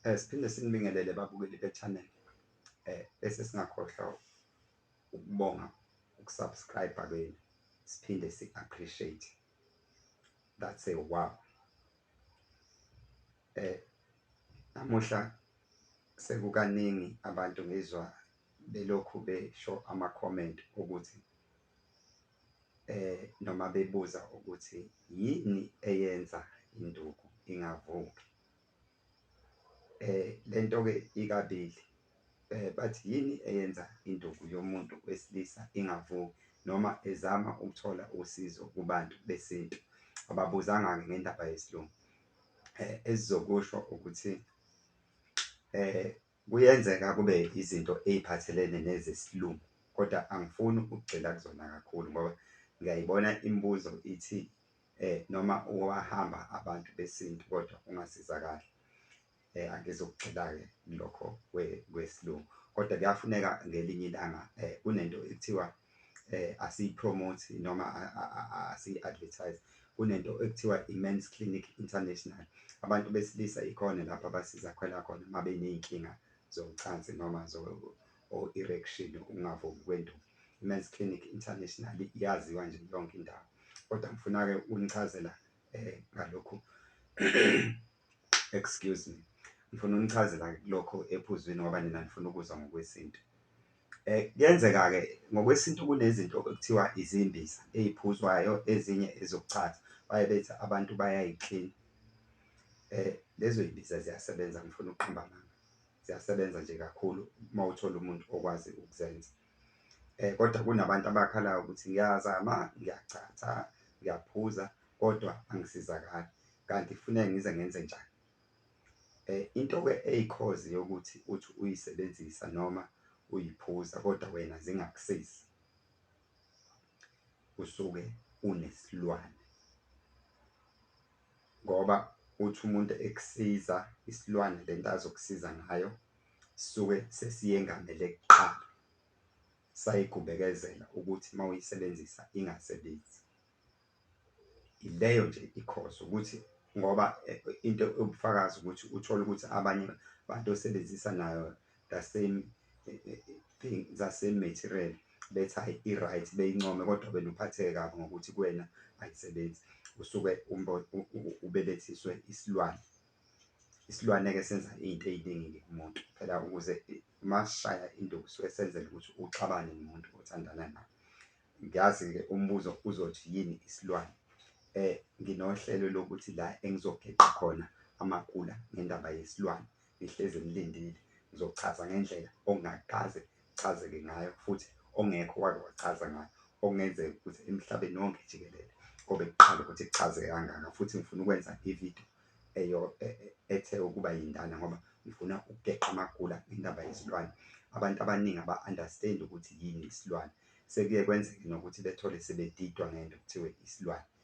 Eh, siphinde sinibingelele babukeli be-channel eh, bese singakhohlwa ukubonga ukusubscribe kwenu siphinde si-appreciate that's a wow eh namuhla sekukaningi abantu ngizwa belokhu besho ama-comment ukuthi eh noma bebuza ukuthi yini eyenza induku ingavuki Lento-ke ikabili bathi yini eyenza induku yomuntu wesilisa ingavuki noma ezama ukuthola usizo kubantu besintu. Ababuzanga-ke ngendaba yesilungu. Esizokusho ukuthi kuyenzeka kube izinto ey'phathelene nezesilungu kodwa angifuni ukugxila kuzona kakhulu ngoba ngiyayibona imibuzo ithi eh noma owahamba abantu besintu kodwa ungasizakali eh angizokugxila-ke lokho kwesilungu kodwa kuyafuneka ngelinye ilanga eh kunento ekuthiwa eh asiyipromote noma asiyi-advertise kunento ekuthiwa i-Men's Clinic International abantu besilisa ikhona lapho abasiza khona khona uma beney'nkinga zocansi noma or erection ungavumi kwenduku. Imen's Clinic International iyaziwa nje yonke indawo. Kodwa ngifuna ke unichazela eh ngalokhu excuse me. Ngifuna unichazela lokho ephuzwini ngoba nina nifuna ukuzwa ngokwesintu. Eh kuyenzeka ke ngokwesintu kunezinto okuthiwa izimbiza eziphuzwayo ezinye ezokuchaza baye bethi abantu bayayiclean eh lezo yimbiza ziyasebenza ngifuna ukuqamba amanga ziyasebenza nje kakhulu uma uthola umuntu okwazi ukuzenza um kodwa kunabantu abakhalayo ukuthi ngiyazama ngiyachatha ngiyaphuza kodwa angisizakali kanti kufuneka ngize ngenze njani um into-ke eyikhozi yokuthi uthi uyisebenzisa noma uyiphuza kodwa wena zingakusizi usuke unesilwane Ngoba uthi umuntu ekusiza isilwane lento azokusiza ngayo sisuke sesiyengamele kuqala sayigubekezela ukuthi mawuyisebenzisa ingasebenzi ileyo nje ikhozo ukuthi ngoba eh, into ubufakazi ukuthi uthole ukuthi abanye bantu osebenzisa nayo the same eh, eh, eh, thing the same material bethi hayi i-right beyincome kodwa wena uphatheke kabi ngokuthi kuwena ayisebenzi usuke ubelethiswe isilwane isilwane-ke senza iy'nto ey'ningi-ke kumuntu phela ukuze masishaya into kusuke senzela ukuthi uxabane nomuntu othandana naye ngiyazi-ke umbuzo uzothi yini isilwane um nginohlelo lokuthi la engizogeqa khona amakula ngendaba yesilwane Ngihlezi ngilindile, ngizochaza ngendlela okungakaze kuchazeke ngayo futhi ongekho wake wachaza ngayo, okungenzeka ukuthi emhlabeni wonke jikelele kobe kuqala ukuthi kuchazeke kangaka futhi ngifuna ukwenza ividiyo eyo e, e, ethe ukuba yindana ngoba ngifuna ukugeqa amagula ngendaba yezilwane. Abantu abaningi aba-understand ukuthi yini isilwane, sekuye kwenzeke nokuthi bethole sebedidwa ngento kuthiwe isilwane